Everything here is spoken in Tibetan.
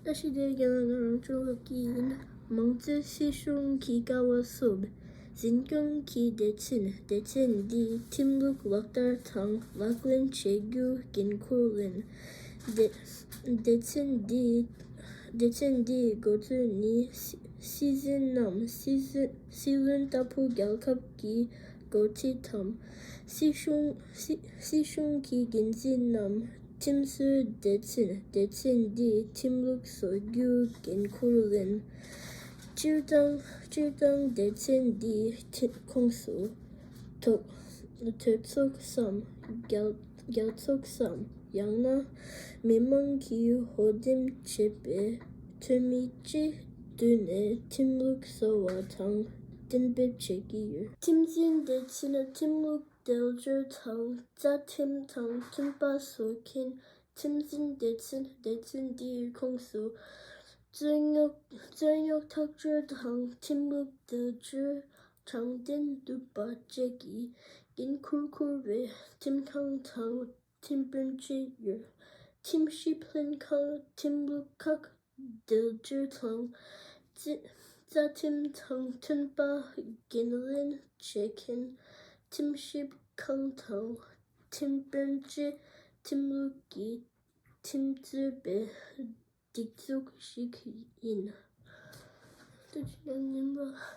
ལྟ་ཞིབ་བྱེད་མཁན་ལ་རང་སྐྱོང་སློབ་ཀྱི་ཡིན། མང་གཙོའི་སྲིད་གཞུང་གི་ཀ་བ་བསུབ། འཛིན་སྐྱོང་གི་བདེ་ཆེན་བདེ་ཆེ་འདིས་ཁྲིམས་ལུགས་ལག་བསྟར་དང་ལག་ལེན་བྱེད་རྒྱུ་འགན་འཁུར་ལེན། བདེ་ཆེན་འདིའི་འགོ་གཙོས་ནི་སྲིད་འཛིན་ནམ་སྲིད་བློན་ལྟ་བུ་རྒྱལ་ཁབ་ཀྱི་འགོ་ཁྲིད་དམ་སྲིད་གཞུང་གི་འགན་འཛིན་ནམ། ཁྲིམས་བཟོའི་སྡེ་ཚན་སྡེ་ཚན་འདིའི་ཁྲིམས་ལུགས་བཟོ་རྒྱུའི་འགན་ཁུར་ལེན། སྤྱིར་བཏང་སྤྱིར་བཏང་སྡེ་ཚན་འདིའི་ཁོངས་སུ་དོལ་ཚོགས་སམ་རྒྱ་ཚོགས་སམ་ཡང་ན་མི་མང་གིས་ཧོལ་འདེམས་བྱས་པའི་འཐུས་མི་སྤྱི་བསྡུས་ནས་ཁྲིམས་ལུགས་བཟོ་བ་དང་གཏན་འབེབས་བྱེད་ཀྱི་ཡོད། ཁྲིམས་འཛིན་སྡེ་ཚན་ཁྲིམས་ལུགས་འབྲེལ་མཐུད་དང་བཅའ་ཁྲིམས་དང་མཐུན་པ་བཟོ་མཁན་ཁྲིམས་འཛིན་སྡེ་ཚན་སྡེ་ཚན་དེའི་ཁོངས་སུ་རྩོད་རྙོག་ཐག་གཅོད་དང་ཁྲིམས་ལུགས་བརྡལ་བཅོས་དྲང་བདེན་འདུག་པ་བཅས་ཀྱི་འགན་འཁུར་འཁུར་བའི་ཁྲིམས་ཁང་དང་ཁྲིམས་དཔོན་བཅས་ཡོད། ཁྲིམས་ཞིབ་ལྷན་ཁང་ཁྲིམས་ལུགས་ཁག་འབྲེལ་མཐུད་ཁང་བཅས་རྩ་ཁྲིམས་དང་མཐུན་པ་འགན་ལེན་བྱེད་མཁན་ཁྲིམས་ཞིབ་ཁང་དང་ཁྲིམས་དཔོན་བཅས་ཁྲིམས་ལུགས་ཀྱི་ཁྲིམས་རྩོད་པའི་སྒྲིག་འཛུགས་ཤིག་ཡིན།